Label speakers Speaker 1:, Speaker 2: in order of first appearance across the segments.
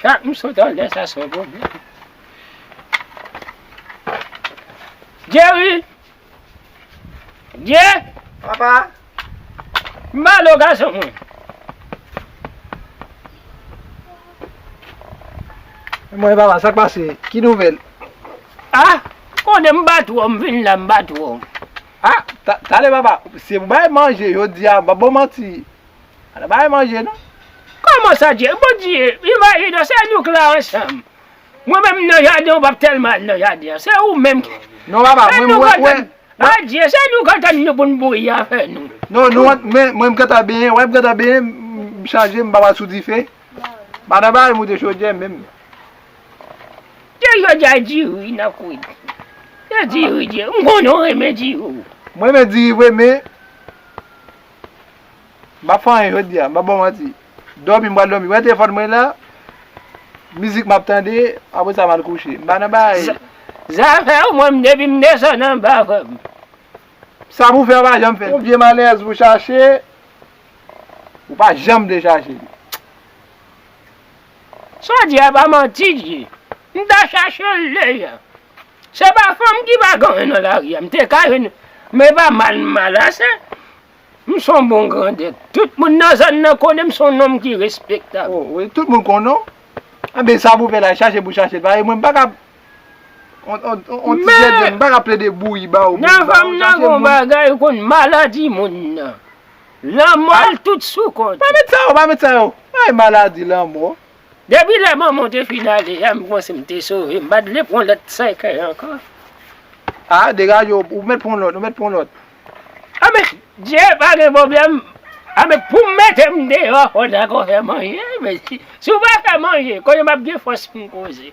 Speaker 1: Chak m sot an lè sa son pwoblèm. Jerry! Jerry! Papa! M ba lo gason mwen.
Speaker 2: Mwen papa, sa k pase? Ki nouvèl? A!
Speaker 1: Konnen m bat ou an, m vin la m bat ou an. A!
Speaker 2: Talè papa, se pou bay manje jodi a, m pap ba w manti. Al bay manje non. Kòman sa Dye?
Speaker 1: Bon Dye, imajine w, se nou k la ansanm. Mwen menm m nan jaden an, m pap tèlman al nan jaden an. Se ou menm ki. Non papa, mwen m
Speaker 2: wè. Adye,
Speaker 1: se nou k antann nou pou n bouyi afè nou. Non, nou ant men,
Speaker 2: mwen m gentan benyen, wè m gentan benyen, m chanje, m pap al sou dife. Pa nan bay moute chodyè menm. Dye
Speaker 1: jodi a diri nan kwit. Se diri Dye. M konnen w renmen diri w. M renmen diri vre
Speaker 2: men. Map fè anyen jodi a, map baw manti. Dòmi m pral dòmi, wè telefòn mwen la, mizik map tande, apre sa mal kouche. M pa nan bagay. Zafèw
Speaker 1: mwen depi m desann anba fòm.
Speaker 2: Sa pou fè ou pa janm fè. Yon vye malèyèz pou chache, ou pa janm vle chache li.
Speaker 1: Saw di a pa manti di. M ta chachel deja. Se pa fanm ki pa ganyen nan lari a. M te ka jwenn, men e pa mal m mal ase. M s on bon grandèt. Tout moun nan zòn nan konnen m s on nonm ki respektab. O wi, tout moun konnen
Speaker 2: w. Enben, sa pou fè la, chache pou chache l. Paske mwen m pa ka on ti zèdè, m pa ka plede bouyi ba ou. Nan fanm nan gen yon
Speaker 1: bagay ou konn, maladi moun nan. Lanmò l tout sou kont ou. Pa met sa yo, pa met sa yo.
Speaker 2: Ay maladi, lanmò. Depi lè manman
Speaker 1: w te fin ale a, m panse m te sove. M pa t vle pran lòt sèkèy ankò. A,
Speaker 2: degaje w, ou mèt pran lòt, ou mèt pran lòt.
Speaker 1: Anben, Dye pa gen pwoblèm. Anben, pou m mete m deyò, fò w dakò fè manje. Mèsi. Si w pa fè manje, kounye m ap gen fòs pou m koze.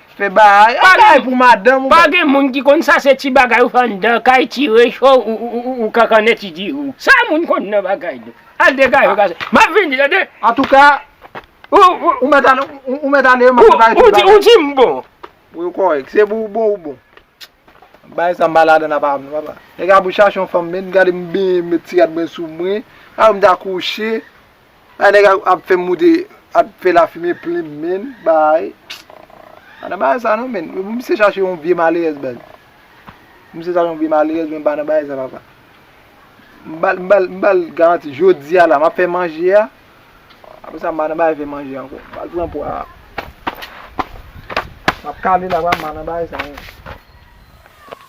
Speaker 2: Fe bahay anday pou madanm ou. Pa gen moun ki konn
Speaker 1: sa se ti bagay ou fè anndan kay ti recho ou kankannen ti dirou. Sa moun konn nan bagay nou. Al degaje gason. Map vini tande. Antouka
Speaker 2: ou mèt ale ou mèt ale map prepare
Speaker 1: tout bagay. Ou dim bon. Wi ou kòrèk
Speaker 2: se pou ou bon ou bon. Bagay sa mpa ladann apa avèw papa. Nèg la pou chache yon fanm menn gade m benyen m met ti rad mwen sou mwen. Aw m ta kouche. Bay nèg ap fèm moute ap fè lafime plim menn bay pa nan bagay sa non menn pou misye chache yon vye malerèz baz misye chache yon vye malerèz menn pa nan bagay sa papa m bal m bal m bal garanti jodia la map fè manje a apre sa m pa nan bagay fè manje ankò m bal pran pwa a map kale la papa m pa nan bagay sa non.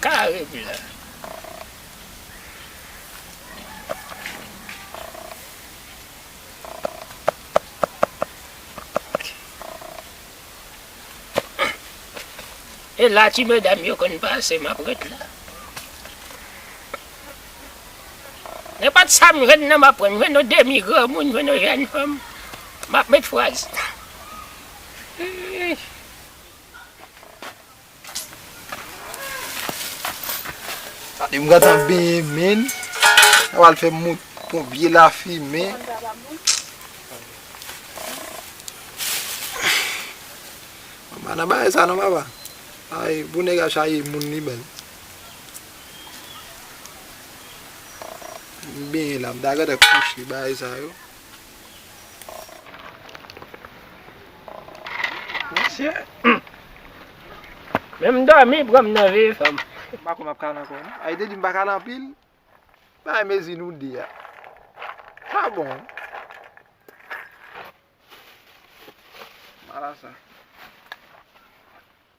Speaker 1: Kare epi la. E la ti medam yo konn pase map ret la. Ne pat sa m jwenn nan map pran. Jwenn yon demi granmoun, jwenn yon jèn fanm. Map met fraz.
Speaker 2: Yon gade nan benyen menn. Nan wal fè moun pou vye la fi men. Mama nan bay sa nan mama. Ay pou nèg a chaje moun li menm. M benyen la m ta gata kouche bay sa yo.
Speaker 1: Mesye. Menm domi pran m nan veye fanm. M pa konn map kale anko
Speaker 2: non. Ayi te di m pa kale anpil. Bay mezi nou di a. Pa bon. Marasa.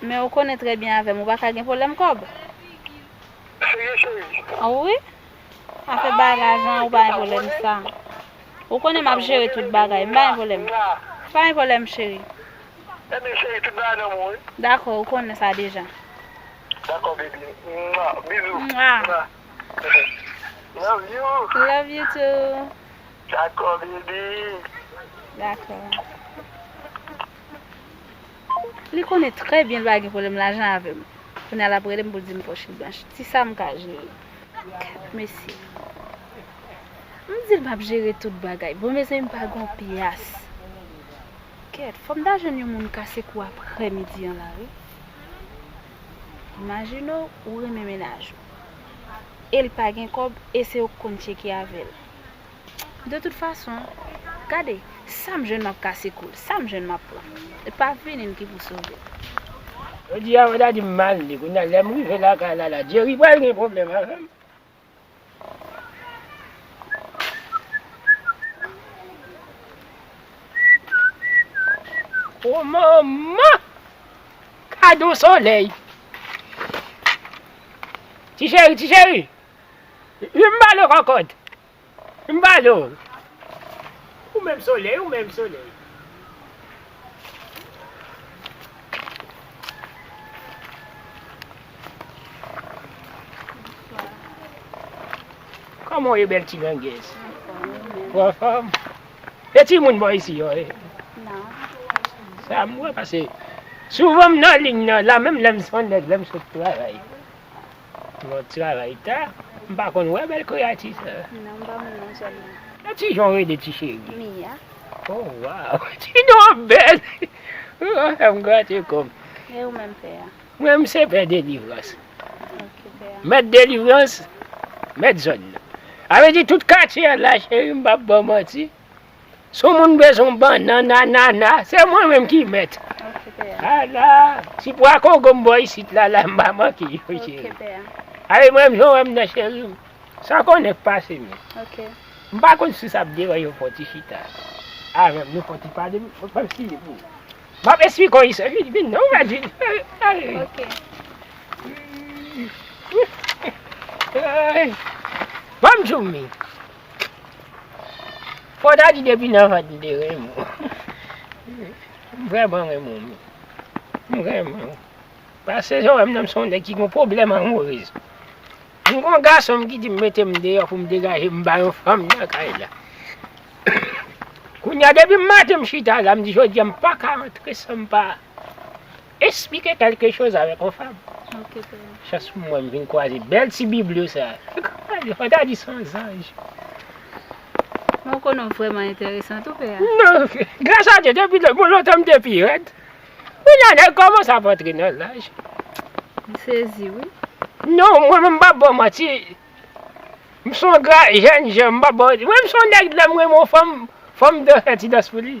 Speaker 3: Men
Speaker 4: ou konnen trè byen avèm ou pa ka gen pwoblèm kòb.
Speaker 3: Serye cheri? An wi.
Speaker 4: Afè bay lajan an ou pa gen pwoblèm sa. Ou konnen map jere tout bagay. M pa gen pwoblèm. M pa gen pwoblèm cheri. Ebyen
Speaker 3: cheri tout bagay nan men w wi. Dakò ou konnen sa
Speaker 4: deja. Dakò
Speaker 3: baby. Mwa. Bizou. Mwa.
Speaker 4: Love
Speaker 3: you. Love you too.
Speaker 4: Dakò
Speaker 3: baby. Dakò.
Speaker 4: Li konnen trè byen l pa gen pwoblèm lajan avè m. Kounye a l ap rele m pou l di m pòch li blanch. Ti sa m ka jere. Kèt mesye. M di l m ap jere tout bagay. Bon mezanmi m pa gen yon pyas. Kèt, fò m ta jwenn yon moun kase kou aprè midi an la wi. Imajine w, ou renmen mennaj ou. E l pa gen kòb e se ou k konn tcheke avè l. De tout fason, gade, sa m jwenn m ap kase kou l, sa m jwenn m ap pran. E pa vini m ki pou sove l. Jodi
Speaker 1: a, Wanda di m mal li. Kounye a, lè m rive lakay la la, Djeri pral gen pwoblèm avè m. O manman! Gad yon solèy! Ti cheri, ti cheri! Li m ba lò kòkòt. M pa do w. Ou menm solèy, ou menm solèy. Kòman w ye bèl ti grangèz? Ou anfòm? E ti moun bò isi yo e? Non. Sa m wè pase souvan m nan liy nan la menm lè m son nèg lè m sot travay. Bon travay ta. M pa konn wè bèl kreyati sa. Non m pa moun nan
Speaker 4: zòn nan. E ti jan w rele ti
Speaker 1: cheri? Mia.
Speaker 4: Oh
Speaker 1: waw ti non an bèl ou ap fè m grate kò m. E ou menm pè
Speaker 4: a? Mwen m se pè
Speaker 1: delivrans. Ok pè
Speaker 4: a. Mèt delivrans
Speaker 1: mèt zòn nan. Sa vle di tout katye an la cheri m pap baw manti. Si yon moun bezwen yon bannann, anana, se mwen menm ki mèt. Ok, pè a. A
Speaker 4: la! Ti
Speaker 1: pwa kongo m bo isit la, la m pa manke yo, cheri. Ok, pè
Speaker 4: a. Ale menm jan
Speaker 1: w wè m nan, cheri m. San konnen k pase menm. Ok. M pa
Speaker 4: konn si sa
Speaker 1: ap deranje w fè yon ti chita avè m, nou fè yon ti pale, m ap esplike pou ou. M ap esplike w isit. Vin, vin non, vin, vin. Ale.
Speaker 4: Ok.
Speaker 1: Bon m di w men. Fò ta di depi nan vant m te renmen w. M vrèman renmen w Mimi. M renmen w. Pase jan w wè m nan m se yon nèg ki gen pwoblèm anmorez. M gen yon gason m ki di m mete m deyò pou m degaje m ba yon fanm nan kay la. Kounya depi m maten m chita la m di jodi a m pa ka antre san m pa. Esplike kelke choz avèk on fab.
Speaker 4: Chans pou mwen m vin
Speaker 1: kwaze bèl ti biblyo sa. Ou ta di son zanj.
Speaker 4: Mwen w konnen w vrèman enteresan tou pè a. Non, gras
Speaker 1: a Dye depi lè bon lontan m te pi rèd. Kounye a nèg kòmanse ap antre nan laj. M sezi
Speaker 4: wi. Non, mwen menm
Speaker 1: m pap ba w manti. M son gra jèn jan, m pap ba w, mwen m son nèg lè m renmen on fanm, fò m dan fè ti dans pou li.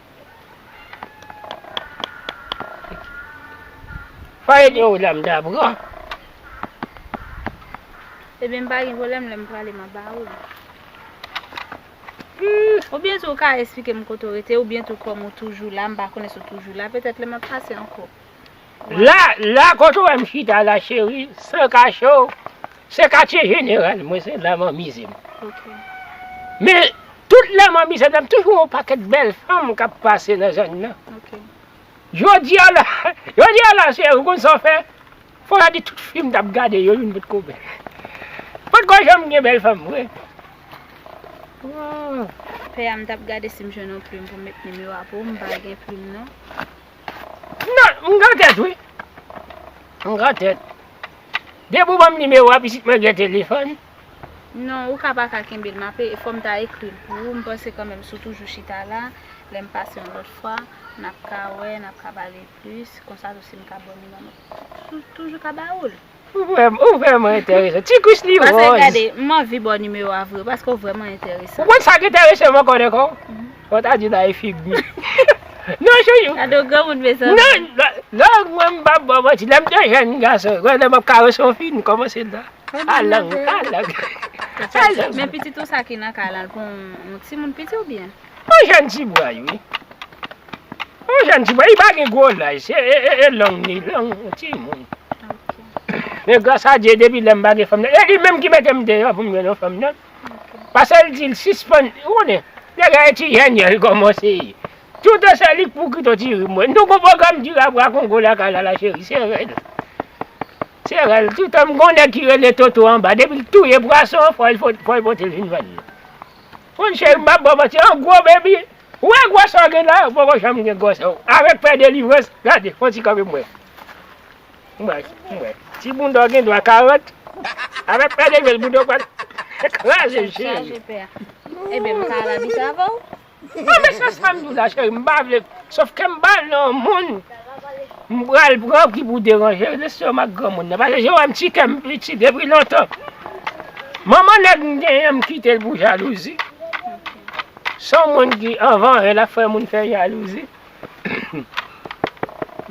Speaker 1: Pale de ou dam da bro.
Speaker 4: Ebyen m pa gen pwoblèm lè m prale m ap ba ou li. Humm oubyen tou ou ka esplike m kote ou rete oubyen tou kòm ou toujou la m pa konnen si w toujou la petèt lè m ap pase ankò. La,
Speaker 1: la kot ou wèm chita la cheri, san kache w, se katye jeneral mwen se la mwen amize m.
Speaker 4: Men
Speaker 1: tout lè mwen amize m toujou gen yon pakèt bèl fanm kap pase nan zòn nan.
Speaker 4: Jodi
Speaker 1: a la, jodi a la cheri ou konn sa w fè, fò ta di tout fi m tap gade yo youn potko bèl. Potko janm gen bèl fanm vre. Pè a m tap gade
Speaker 4: si m jwenn yon plim pou m met nimero a pou ou, m pa gen plim non.
Speaker 1: Nan, m gran tèt wi. M gran tèt. Depi w ban m nimewo a pitit mwen gen telefòn. Non, ou
Speaker 4: ka pa ka kenbe l. M ap, fò m ta ekri l pou ou. M panse kanmenm si w toujou chita la, lè m pase yon lòt fwa, n ap ka wè, n ap ka pale plis. Konsa tou si m ka ba w nimewo m, m toujou ka ba ou l. Ou vrèman
Speaker 1: enteresan. Ti kouch li ròz. Pase gade, m
Speaker 4: anvi ba w nimewo a vre, paske w vrèman enteresan. Ou konn sa k enterese m
Speaker 1: ankò dèkò? Fò w ta di w ta ye fig mi. Non chouchou. Gade yon granmoun mezanmi.
Speaker 4: Non, non
Speaker 1: mwen m pap ba w manti. Lè m te jèn gason, lè m ap karese yon fi, m kòmanse la. A lang, a lang.
Speaker 4: Men pitit ou sa ki nan kay lan, l pou yon timoun piti oubyen? An jan dibway
Speaker 1: wi. An jan dibway li pa gen gwo laj se e long li long yon ti moun. Men gras a Dye depi lèm pa gen fanm nan e li menm ki metem deyò poum jwenn yon fanm nan. Pasel dil sispann ou konnen nèg la e ti jèn jan li kòmanse ye. Tout an se li k pou kite yon ti rim mwen. Nou gon pwogram dira bwa kongo lakay la la cheri se rèl. Se rèl toutan m gon nèg ki rele Toto anba depil touye pwason fòl potel vin vann. Moun cheri m pap baw manti an gwo baby ou wè gwòs sa ou gen la ou poko janm gen gwòs sa ou avèk pè delivrans gade fon ti kanpe m wè m wè m wè ti bounda w gen dwa 40 avèk pè delivrans bounda w pral kraze cheri
Speaker 4: non men se
Speaker 1: sam diw la cheri m pa vle sof kem bal nan moun. M pral pran ki pou deranje lestomak granmoun nan pase se wè m ti kè m piti depi lontan manman nèg m genyen m kite l pou jalouzi son moun ki anvan e l ap fè moun fè jalouzi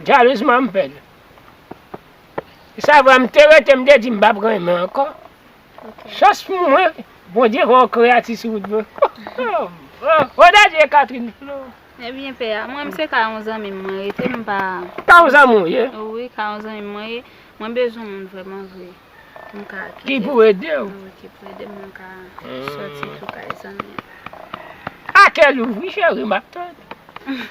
Speaker 1: jalouz m an pè l e sa vwa m te rete m te di m pa p renmen ankò chans pou mwen bondye fè yon kreyati sou wout mwen ho dadye Catherine. Ebyen pè a,
Speaker 4: mwen se ka yon zanmi m mwen rete m pa Ka yon zanmi w ye?
Speaker 1: Wi ka yon zanmi m
Speaker 4: mwen ye, mwen bezwen moun vrèman vre pou m ka kite Ki pou ede
Speaker 1: w? Wi ki pou ede m
Speaker 4: mwen ka soti tou kay zanmi
Speaker 1: an. A kè louvri cheri map tann ou.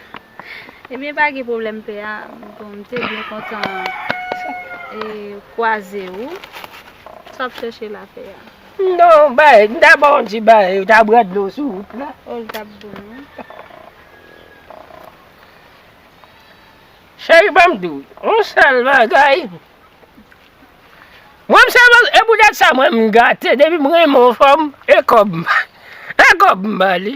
Speaker 4: Ebyen pa gen pwoblèm pè a, bon m te byen kontan kwaze ou, sa w ap chèche la pè a? Non bay,
Speaker 1: m ta baw yon ti bay, yo ta bwè dlo sou wout la. Oh li tap bon
Speaker 4: wi.
Speaker 1: Cheri banm diw yon sèl bagay, mwen m sèl bagay e poutèt sa mwen m gate depi m renmen yon fanm e kòb m e kòb m bali.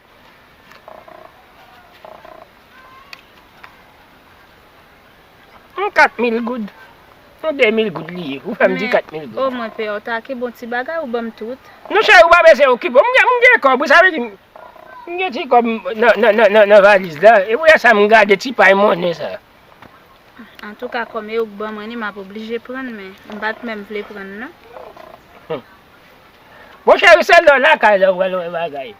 Speaker 1: Yon 4000 goud. Yon 2000 goud li ye. Ou fè m di 4000 goud. Men, o mwen pè w ta ki bon
Speaker 4: ti bagay ou ban m tout. Non cheri, ou pa bezwen
Speaker 1: okipe w. M gen kòb wi, sa vle di m gen ti kòb nan valiz la. E pou lè sa m gade ti pay monnen sa.
Speaker 4: Antouka kòm e ou k ban mwen li, m ap oblije pran l men. M pa t menm vle pran l non.
Speaker 1: Bon cheri, se lè w lakay la ou pral wè bagay.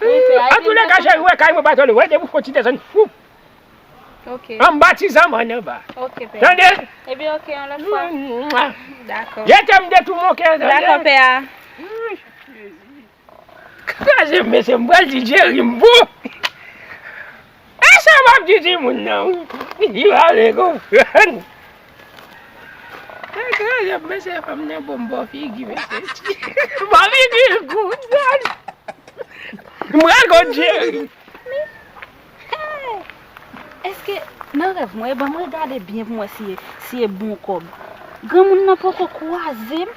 Speaker 1: An tou le ka cheri we kay mwen pa tande we depi w fon ti desann foup
Speaker 4: anba ti
Speaker 1: zanman an anba tande
Speaker 4: ye te mnde tou mou
Speaker 1: ke kraze m mesye m pral di Jerry m pou. E sa map di timoun nan wi li di pale konprann. Sa kras ap mesye fanm nan bon bò figi mesye ti. Bò figi l gou dad. M pral konn Jerry. Mi hey
Speaker 4: eske nan rèv mwen e banm regade byen pou m wè si e bon kòb. Granmoun nan poko kwaze m.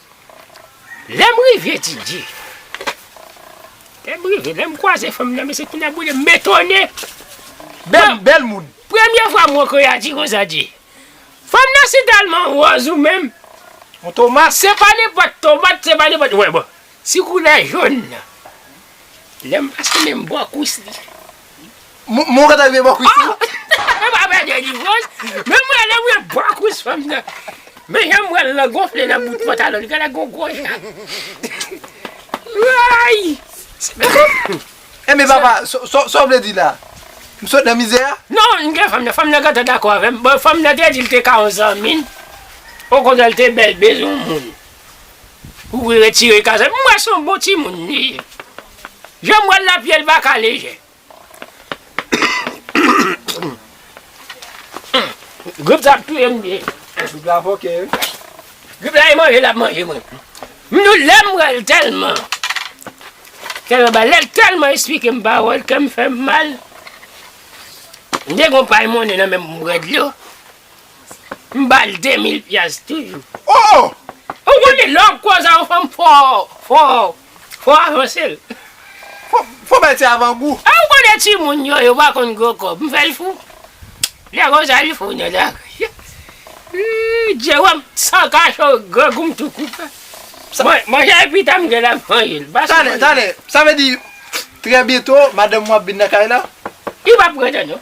Speaker 1: Lè m rive etidye, lè m rive, lè m kwaze fanm nan, mesye kounye a boule m, men tonnè! Bèl,
Speaker 2: bèl moun! Premye fwa m wè
Speaker 1: Koyadji konsa di, Fanm nan si tèlman wòz ou menm! Yon tomat?
Speaker 2: Se pa nenpòt
Speaker 1: tomat, se pa nenpòt, wè bon, si koulè jòn nan, Lè m pase men m bò kwis li.
Speaker 2: Mwen ou gentan rive bò kwis li? Mwen pa pè de
Speaker 1: divòs, men mwen rive bò kwis fanm nan. Men jan m wè l lan gonfle nan bout pantalon li genlè gen yon gwo chat. Woy!
Speaker 2: Enben papa, sa w vle di la? M sot nan mizè a? Non, m gen fanm nan,
Speaker 1: fanm nan gentan dakò avè m. Bon, fanm nan te di l te ka yon zanmi l, okontrè l te bèl bezwen yon moun. Ou retire kazèk m wè son bon timoun li ye janm wèl la pyel paka lejè grip sa ap touyem grip la fòkè
Speaker 2: wi
Speaker 1: grip la e manje lap manje mwen m nou lèm wèl tèlman kèm anba lèl tèlman esplikem pawòl kèm fèm mal m te gon pay monnen nan menm m bwè dlo. M bal 2000 pyas toujou. Oh! Ou
Speaker 2: konnen lè
Speaker 1: wap koze a yon fanm fò fò fò avanse l.
Speaker 2: Fò bay ti avan gou. E ou konnen timoun
Speaker 1: yo yo pa konn gwo kòb m fè l fou. Lè konsa li fou nèt ak ooh Jérôme san kache w grangou m tou koupe. Manje a pita m gentan ap manje l. Tande tande sa
Speaker 2: vle di trè byento madanm ou ap vin nan kay la? Li pap rete
Speaker 1: non.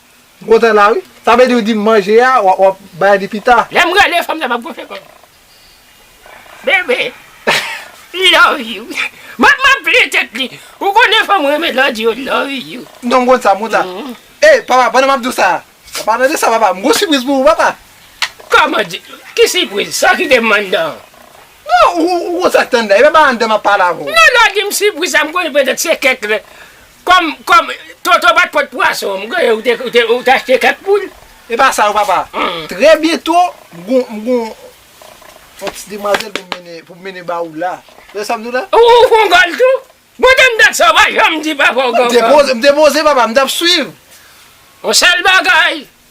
Speaker 2: M kontan la wi. Sa vle di ou dim manje a wap bay li pita. Lèm rele fanm sa pap goshe
Speaker 1: kòm. Bebe love you Map maple tèt li ou konnen fanm renmen lè w di yo love you. Non m konn sa m konn sa.
Speaker 2: E papa pandan map di w sa. Papa tande sa papa m gon sipriz pou ou papa. Kòman di
Speaker 1: ki sipriz sa ki gen m anndan an. Non
Speaker 2: ou konn sak t anndan e papa anndan map pale avè w. Non lè w dim
Speaker 1: sipriz
Speaker 2: sa
Speaker 1: m konnen petèt se kèk Kòm, kòm, Toto bat kòt pwason, m konnen ou te, ou te, ou t achte kèk poul? E pa sa non papa.
Speaker 2: Trè byento, m gon, m gon on ti demwazèl pou m mennen, pou m mennen ba ou la. Tande sa m di w la? Ou, ou gon gòl tou?
Speaker 1: Bon te m dat sa ou pa janm di papa ou gon gòl. M te poze, m te poze papa,
Speaker 2: m t ap swiv. On
Speaker 1: sèl bagay.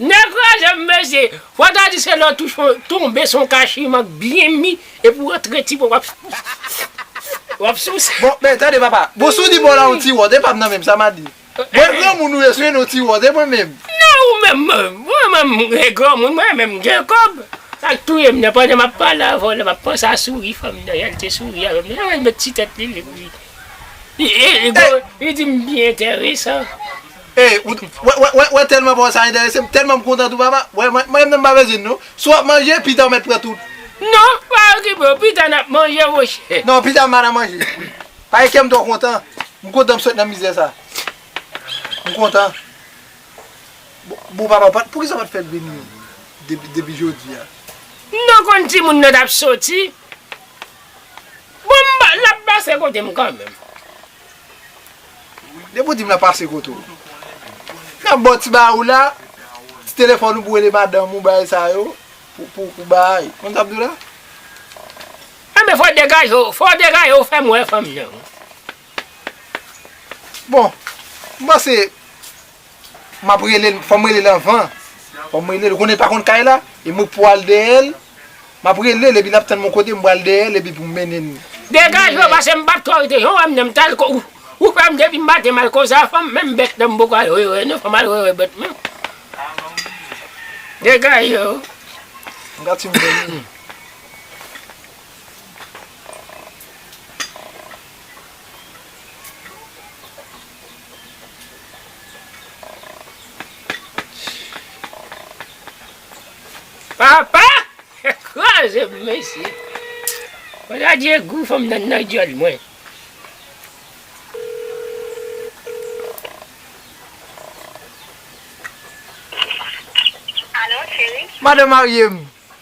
Speaker 1: Nèg kraze m mesye. Fwa ta di se lè w touche yon tonbe se yon kachiman k byen mi epi w antre ti bwa w ap souse.
Speaker 2: Bon men tande papa, bon si w di bò la yon ti wòd e pa m nan menm sa m a di. Mwen granmoun ou ye si w yon ti wòd e mwen menm. Nan ou menm
Speaker 1: mwen menm m granmoun mwen menm m gen kòb. Sa k touye m nan pandan m ap pale avè w la m ap panse a souri fanm nan jan l te souri avè m nan jan l met ti tèt li li di m byen enteresan.
Speaker 2: Hey ou t wè telman paw sa enteresem telman m kontan tou papa wè mwen menm m pa bezwen non si wap manje pita ou met pran tout. Non pa
Speaker 1: okipe w pita nap manje monchè. Non pita ma nan
Speaker 2: manje paske kèm twò kontan m kontan m sot nan mizè sa m kontan bon papa pat poukisa ou pat fèl vini depi jodia. Non konn
Speaker 1: timoun nan tap soti bon lap pase kotem kanmenm.
Speaker 2: Depi w di m la pase kote w. N ap ba w ti bagay w la, ti telefòn ou pou w rele madanm ou bagay sa yo, pou w bay. Konn sa m di w la?
Speaker 1: Enben fò w degaje w, fò w degaje w fè m wè fanm jan w.
Speaker 2: Bon, m panse, Map rele l fòm rele l anvan fòm rele l ou konnen l pa konn kay la e mwen pou al dèyè l map rele l epi lap tann m yon kote m pral dèyè l epi pou m mennen l Degaj ou pase
Speaker 1: m pat kòw te jan w wè m nan m tal kòw ou fè m depi m maten m al kòw sa fanm menm bèt nan m poko al wè wè nan fanm al wè wè bèt nan Degaje w. M ka
Speaker 2: tchwim nan menm.
Speaker 1: Papa! Kraze m mesye. Wala degou fanm nan nan dyòl mwen.
Speaker 3: Alo cheri. Madan marye m.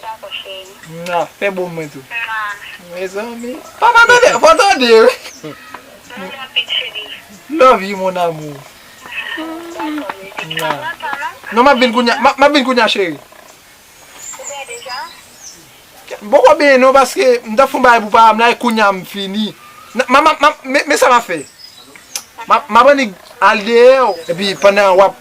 Speaker 2: Dako cheri. Mwa, fè bon mwen tou. Mwa. Mezanmi. Papa tande, fò tande wi. Love ou anpil cheri. Love you mon amour. Dako bebe. Mwa. Pa pran tan non. Non map vin kounya, map vin kounya cheri. Ou byen deja? M poko byen non paske m tap fon bagay pou papa m la e kounya m fini. Map, map, map, men sa map fè. Map annik al deyò epi pandan wap.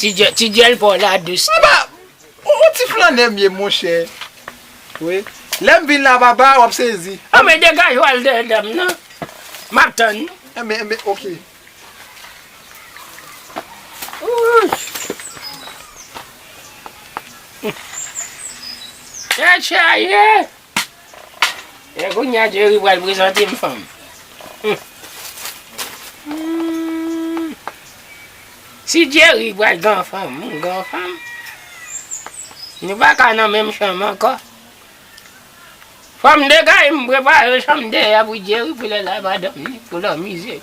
Speaker 2: Ti dyèl
Speaker 1: paw la dous tou. Apa
Speaker 2: ou ti flannè m ye monchè wi lèm vin la papa wap sezi. Anmwe degaj ou al
Speaker 1: dèyè dam nan map tann nou. Anmwe anmwe ok.
Speaker 2: Ooh.
Speaker 1: Tèt chaje. E kounya Jerry pral prezante m fanm. Si Jerry pral gan fanm, m gan fanm. Nou pa ka nan menm chanm ankò. Fò m degay m prepare chanm dèyè pou Jerry pou lè l a madanm li pou l anmize l.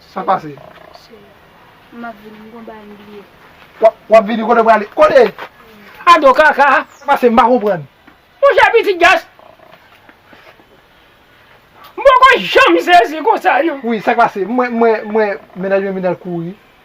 Speaker 2: Sa pase?
Speaker 4: Cheri, m ap vini.
Speaker 2: M gon bagay m bliye. W ap vini? Kote w prale? Kote? Ado
Speaker 1: kaka! Sa pase? M pa konprann.
Speaker 2: Monchè pitit
Speaker 1: gas! M poko janm sezi konsa non. Wi, sa k pase?
Speaker 2: M wè mennaj mwen vin al kouri.